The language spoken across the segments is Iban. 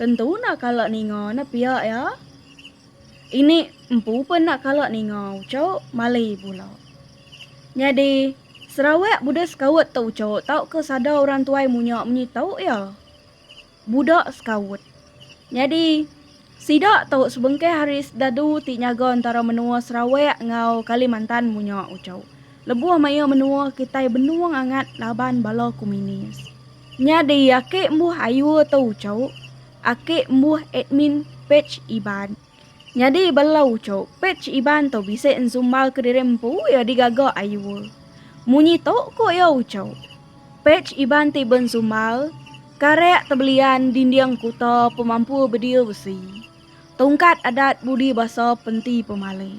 Tentu enda kala ninga ne pia iya. Ini empu pun enda kala ninga ucuk Mali bula. Nyadi, Sarawak buda sekaut tu ucuk tauka sada orang tuai munya munyi tu iya. Buda sekaut. Nyadi, sida tu sebengkah ari sedadu ti nyaga entara menua Sarawak enggau Kalimantan munya ucuk. Lebuh maya menua kitai benung angat laban bala komunis. Nyadi ake mbuh ayu atau ucok, ake mbuh admin page Iban. Nyadi bala ucok page Iban tu bisi nzumbar ke diri empu iya digaga ayu. Munyi tu ku iya ucok, page Iban ti benzumbar karak tebelian dinding kuta pemampur bedil besi, tongkat adat budi basa penti pemali.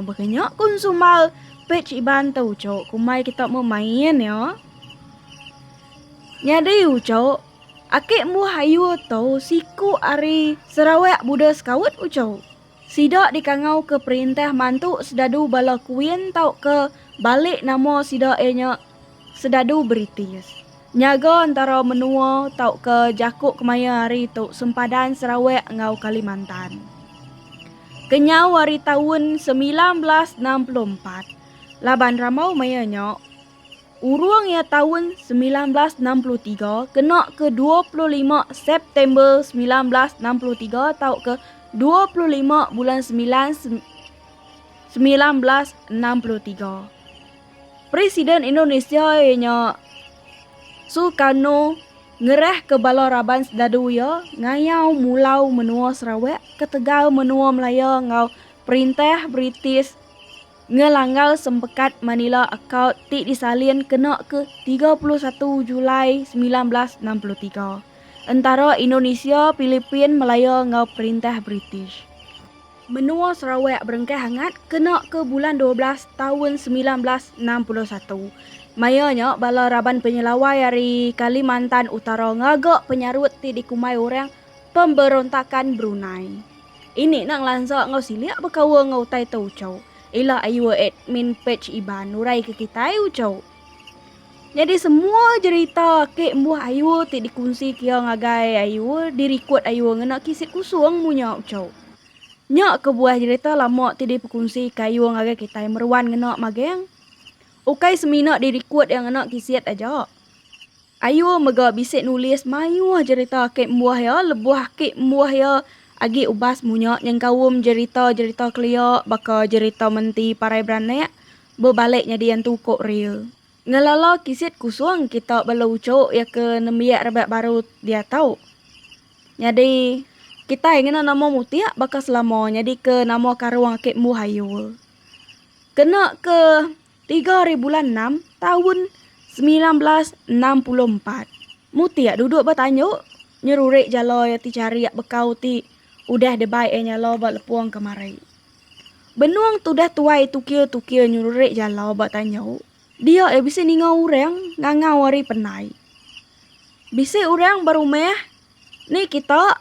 Baka nya ku Nsummal, Pej Iban te ujuk ku mai kita meh main ya. Nyadi ujuk, ake embuh ayu tu siku ari Sarawak Buda Scout ujuk. Sida dikangauka perintah mantu sedadu bala kuin tauka balik nama sida iya nya. Sedadu British, nyaga entara menua tauka jaku kemaya hari tu sempadan Sarawak enggau Kalimantan. Kenyau ari taun semilan belas enam puluh empat, laban rambau maya nya, urung iya taun semilan belas enam puluh tiga kena ke dua puluh lima September semilan belas enam puluh tiga tauka dua puluh lima Bulan Semilan semilan belas enam puluh tiga. Presiden Indonesia iya nya Sukarno ngerahka bala raban sdadu iya ngayau mulau menua Sarawak ketegal menua Melaya enggau perintah British ngelanggar Sempekat Manila Accord ti disalin kena ke tiga puluh satu Julai semilan belas enam puluh tiga entara Indonesia, Pilipin, Melaya enggau perintah British. Menua Sarawak berengkah angat kena ke bulan dua belas taun semilan belas enam puluh satu. Maya nya bala raban penyelawai ari Kalimantan Utara ngaga penyarut ti dikumbai orang Pemberontakan Brunei. Ini enda ngelansa enggau silik bekaul enggau utai tu uchu ila Ayuh Admin Page Iban nuraika kitai uchu. Nyadi semua jerita ake embuh ayu ti dikunsi kia ngagai ayu dirikod ayu ngena kisit kusung mu nya uchauk. Nya kebuah jerita lama ti dipekunsi ke ayu ngagai kitai meruan ngena mageng. Ukai semina dirikod iya ngena kisit aja. Ayuh mega bisi nulis mayuh jerita ake embuh iya lebuh ake embuh iya agi ubas munya nyengkaum jerita-jerita kelia baka jerita menti parai beranak bebalik nyadi antu uko ria. Ngelala kisit kusung kita bala uchok iya ke nembiak rebak baru diatu. Nyadi kitai ngena nama mutik baka selama nyadika nama karung ake embuh ayuh. Kena ke. Tiga ari bulan enam taun semilan belas enam puluh empat, Mutik duduk ba tanjuk nyerurik jalai ati charik bekau ti udah dibai iya nyala ba lepung kemari. Benung ti udah tuai tukir-tukir nyerurik jalai ba tanjuk dia iya bisi ninga orang ngangau hari penai. Bisi orang ba rumah ni kita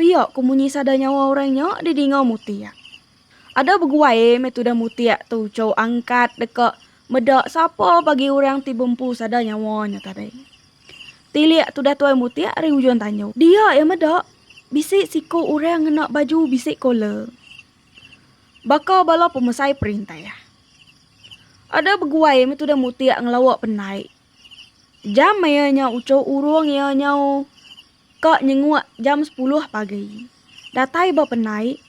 pia ku munyi sada nyawa orang nya didinga Mutik. Ada beguai meh tudah mutik tu chau angkat deka meda sapa bagi orang ti bempu sada nyawa nya tadi. Tilik tudah tuai mutik ari ujung tanjung. Dia iya meda, bisi siku orang ngena baju bisi kolar. Baka bala pemesai perintah. Ada beguai meh tudah mutik ngelawa pendai. Jam maya nya uchu urung iya nyau Ka nyenguk jam sepuluh pagi. Datai ba penai,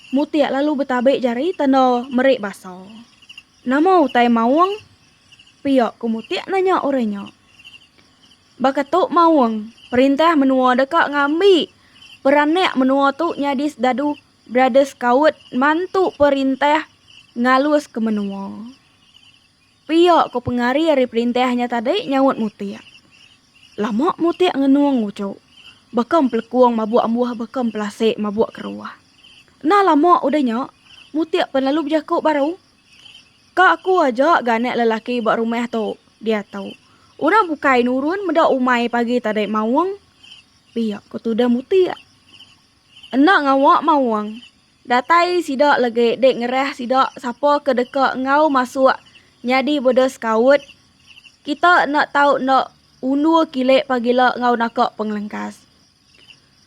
Mutik lalu betabi jari tanda meri basa. Nama utai maung? pia ku Mutik nanya orang nya. Baka tu maung, perintah menua deka ngambi peranak menua tu nyadi sedadu Brother Scout mantu perintah ngaluska menua. Pia ko pengari ari perintah nya tadi nyaut Mutik. Lama Mutik ngenung uchu. Baka empelekung mabuk ambuh baka empelasik mabuk keruah. Enda lama udah nya, Mutik pen lalu bejaku baru. Ka aku aja ga anak lelaki ba rumah tu diatu. Orang bukai nurun meda umai pagi tadi maung. Pia ko tudah Mutik. Enda ngawa maung. Datai sida legi dek ngerah sida sapa ke deka enggau masuk nyadi beda sekaut. Kita enda tau enda undur kilik pagila enggau naka pengelengkas.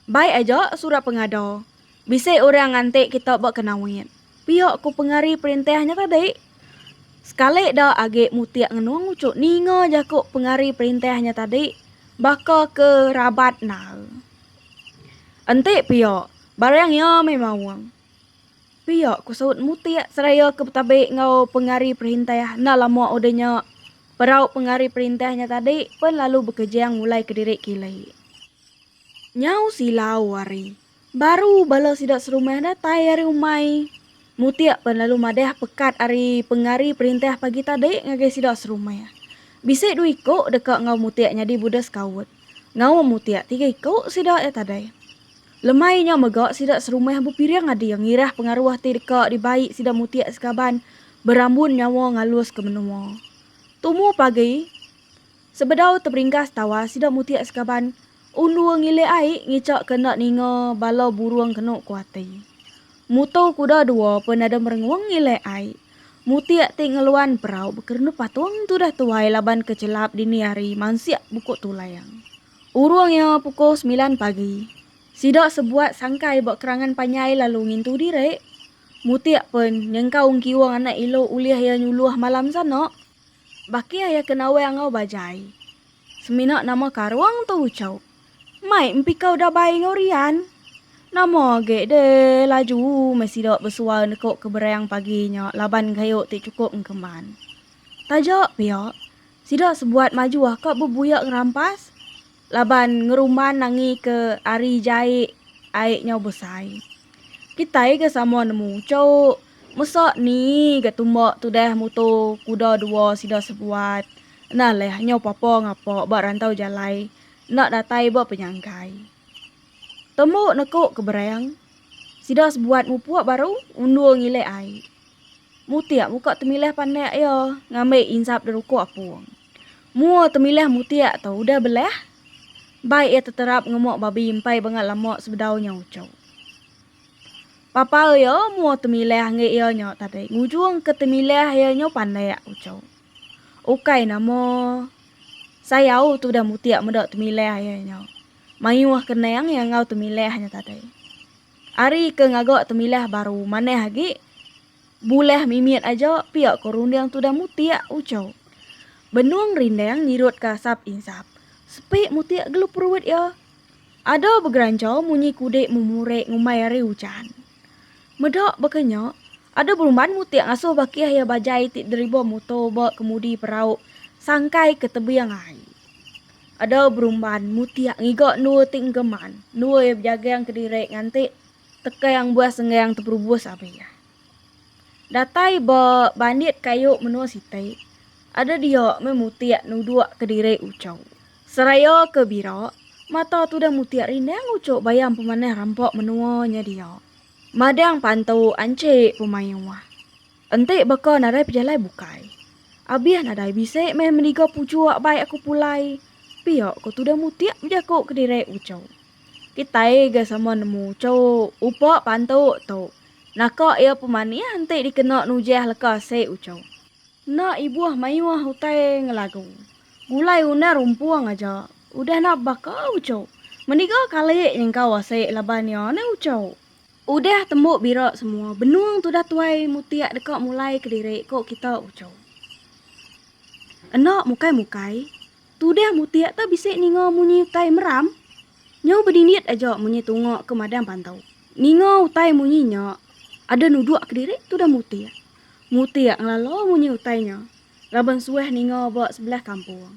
Baik aja surat pengada, bisi orang ngantik kita ba Kenawit. Pia ku pengari perintah nya tadi. Sekali da agi mutik ngenung uchu ninga jaku pengari perintah nya tadi baka ke rabat endar. Enti pia, Barang iya meh maung. Pia ku Saut Mutik seraya ke betabi enggau pengari perintah enda lama udah nya perau pengari perintah nya tadi pen lalu bekejang mulai kediri kili. Nyau silau ari baru bala sida serumah datai ari umai. Mutik pen lalu madah pekat ari pengari perintah pagi tadi ngagai sida serumah. Bisi dua iku deka enggau Mutik nyadi buda sekaut. Ngaum Mutik tiga iku sida iya tadi. Lemai nya mega sida serumah bepiring adi ngirah pengaruh ti deka dibai sida mutik sekaban berambun nyawa ngaluska menua. Tumu pagi, sebedau teberinggas tawa sida mutik sekaban undur ngilik ai ngichakka enda ninga bala burung kenu ku ati. Mutu kuda dua pun nadai merengung ngilik ai. Mutik ti ngeluan perau bekerenup patung tudah tuai laban ke chelap dini hari mansik buku tulang. Urung iya pukul semilan pagi, sida sebuat sangkai ba kerangan panjai lalu ngintu diri. Mutik pen, nyengkau engkiung anak ilu ulih iya nyuluh malam sana. Bakih iya ke nawai enggau bajai. Semina nama karung tu ucuk. Mai empikau dabai enggau rian. Nama agi deh laju meh sida besual nekuk ke berang pagi nya laban kayu ti chukup engkeman. Taja pia, Sida sebuat majuh ka bebuya ngerampas laban ngerumban angi ke ari jai ai nyau besai. Kitai ga sama nemu cuk, mesa ni ga tumba tudah muto kuda dua sida sebuat enda leh nyau papa ngapa ba rantau jalai enda datai ba penyangkai. Tembu neko ke berang, sida sebuat mupuk baru undur ngilih ai. Mutik muka Temilih panak iya ngambi insap deruku apung. Mua Temilih mutik tu udah belah, bai iya teterap ngemuk babi empai banga lama sebedau nya uchu. Papau iya mua Temilih enggai iya nya tadi ngujungka Temilih iya nya panak uchu. Ukai nama sayau tu udah mutik meda Temilih iya nya mayuh kenang iya enggau Temilih nya tadi. Ari ke ngaga temilah baru manah agi, bulah mimit aja pia ke runding tudah mutik uchu. Benung rindang nyirut ke asap insap, sepi mutik gelu perut iya. Ada begerancha munyi kudik memurek ngumbai ari ujan. Meda baka nya, ada berumban mutik ngasuh bakih iya bajai ti deriba muto ba kemudi perau sangkai ke tebing ai. Adau berumban, mutiak ngiga endua ti enggeman, endua iya bejaging kediri nganti teka yang buah senggang teperubus abih. Datai ba bandit kayu menua siti, ada dia meh mutiak nuduk kediri uchu. Seraya ke bira, mata tudah mutiak rindang uchu bayam pemanah rampa menua nya dia. Madang pantu anchi pemayuh. Enti baka nadai pejalai bukai. Abih nadai bisi meh meniga puchuk bai aku pulai. Pia ko tuda mutik bejaku kediri uchup. Kitai ga sama nemu uchup upa pantuk tu. Naka ia pemanih enti dikena nujah leka si uchup. Enda ibuh mayuh utai ngelagu. Gulai undang rumpung aja. Udah nak baka uchup. Meniga kali nyengkau asik laban ia ni uchup. Udah tembu bira semua benung tudah tuai mutik deka mulai kediri ko kita uco. Enda mukai mukai tudah mutik ta bisi ninga munyi utai meram nyau bedindit aja munyi tunga ke madang pantau. Ninga utai munyi nya ada nuduk kediri tudah mutik. Mutik ngelala munyi utai nya laban suah ninga ba sebelah kampung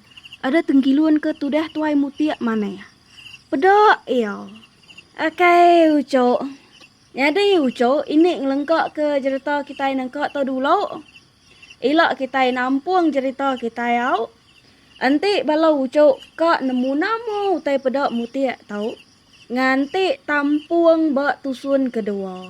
ada tenggilun ke tudah tuai mutik manah. Peda iya. Akai ucuk. Nyadi ucuk ini ngelengkaka jerita kitai nengka tu dulu. Ila kitai nampung jerita kitai au. Enti bala ucuk ka nemu nama utai peda mutik tu nganti tampung ba tusun kedua.